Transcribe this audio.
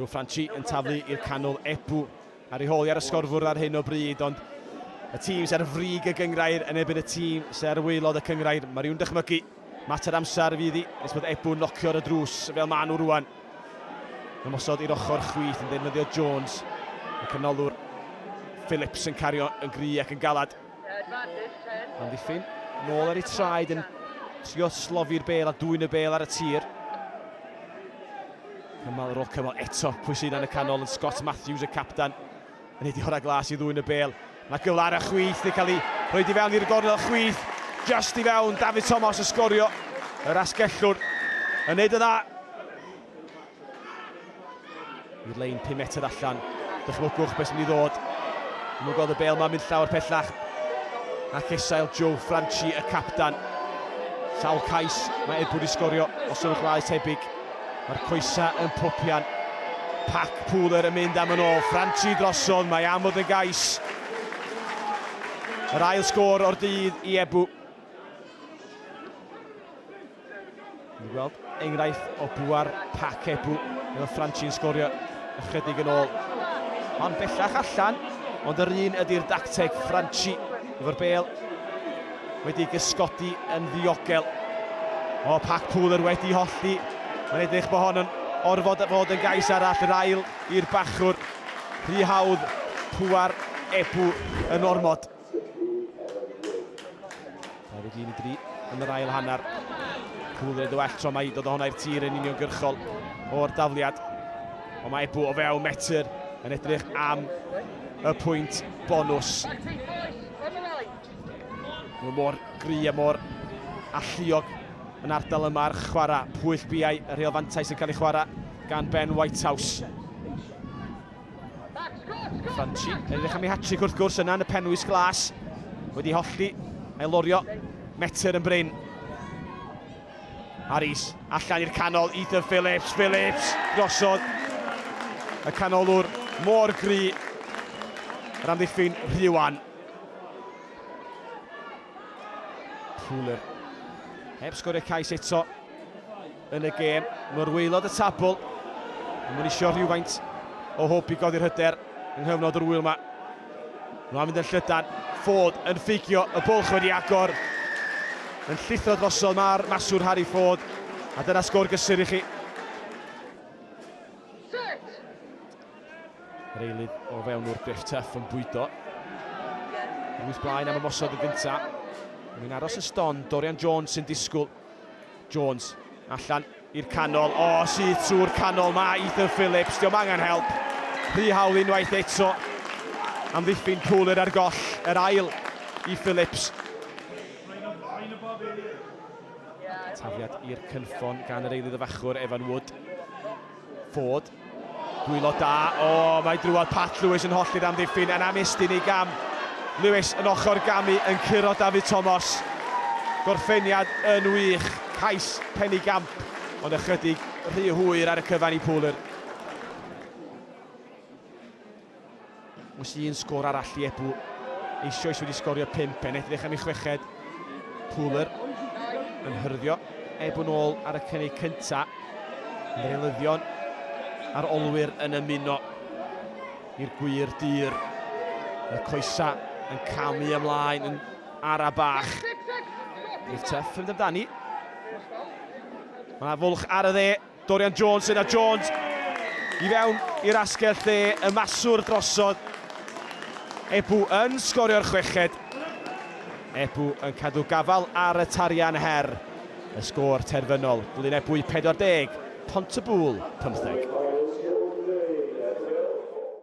Joe Franchi yn taflu i'r canol Ebu ar ei hôl i ar y sgorfwrdd ar hyn o bryd, ond y tîm sy'n ar frig y gyngrair yn ebyn y tîm sy'n ar waelod y cyngrair. Mae rhywun dychmygu mater amser fydd i nes bod Ebu'n locio'r y drws fel maen nhw rwan. Ymosod i'r ochr chwith yn defnyddio Jones. Y canolwr Phillips yn cario yn gry ac yn galad. Amddiffyn, nôl ar ei traed yn trio slofi'r bel a dwy'n y bel ar y tir. Cymal yr ôl cymal eto, pwy sy'n yn y canol yn Scott Matthews, y capdan, yn ei diora glas i ddwy'n y bel. Mae gyfle ar y chwith, yn cael ei rhoi di fewn i'r gornel chwith, just i fewn, David Thomas yn sgorio, yr asgellwr, yn neud y dda. Yw'r lein 5 metr allan. Dychmygwch beth sy'n mynd i ddod. Dwi'n mwyn gweld y bel ma'n mynd llawer pellach. A chesail Joe Franchi, y capdan. Sawl cais mae Edward i sgorio os yw'n chwaes tebyg. Mae'r coesa yn popian. Pac Pooler yn mynd am yn ôl. Franchi drosodd, mae am fod yn gais. Yr ail sgôr o'r dydd i Ebw. Ni'n gweld enghraifft o bwar pac ebw fel Ffranci'n sgorio ychydig yn ôl. Hon bellach allan, ond yr un ydy'r dacteg Ffranci efo'r bel wedi gysgodi yn ddiogel. O, pac pŵler wedi hollti. Mae'n edrych bod hon yn orfod fod yn gais arall yr ail i'r bachwr. Rhy hawdd pwar ebw yn ormod. Mae wedi mynd i yn yr ail hanner. Cwlyd y well tro mae i dod o hwnna i'r tir yn uniongyrchol o'r dafliad. Ond mae Ebw o fewn metr yn edrych am y pwynt bonus. Mae mor gry a mor alluog yn ardal yma'r chwarae. Pwyll biau y rheol fantais yn cael ei chwarae gan Ben Whitehouse. Franchi yn edrych am ei hat-trick wrth gwrs yna yn y penwys glas. Wedi hollti, a'i lorio, metr yn brin. Aris, allan i'r canol, Ethan Phillips, Phillips, drosodd y canolwr mor gry, yr amddiffyn Rhiwan. Fuller. Heb sgorio cais eto. yn y gêm. Mae'r waelod y tabl yn mynd isio rhywfaint o hwb i godi'r hyder yng nghyfnod yr ŵyl yma. Mae'n mynd yn llydan, Ford yn ffugio, y bwlch wedi agor. Yn llithro drosodd mae'r maswr Harry Ford, a dyna sgôr gysur i chi. Yr eilydd o fewn o'r Biff Tuff yn bwydo. Rwy'n blaen am ymosod y gyntaf. Mae'n aros y ston, Dorian Jones sy'n disgwyl. Jones, allan i'r canol, o, syth trwy'r canol mae Ethan Phillips, diolch angen help. Rhy hawl unwaith eto. Amddiffyn Pooler ar goll, yr ail i Phillips. Tafiad i'r cynffon gan yr eilydd y fachwr, Evan Wood. Ford, Dwylo da, o, mae drwodd Pat Lewis yn hollti'r amddiffyn yn anestyn ei gam. Lewis yn ochr gamu yn curo David Tomos. Gorffeniad yn wych, cais pen i gamp, ond ychydig rhy hwyr ar y cyfan i Pooler. Oes un sgôr arall i Ebou? Eisioes wedi sgorio pump, e'n edrych am ei chweched. Pooler yn hyrddio Ebou'n ôl ar y cynnig cynta. Yr eilyddion a'r olwyr yn ymuno i'r gwir dir. Y coesa yn camu ymlaen yn ara bach. Rhif tyff yn amdani. Mae fwlch ar y dde. Dorian Jones yna, Jones i fewn i'r asgell dde, y maswr drosodd. Ebou yn sgorio'r chweched. Ebou yn cadw gafal ar y tarian her. Y sgôr terfynol, Glyn Ebwy 40, Pont-y-bŵl 15.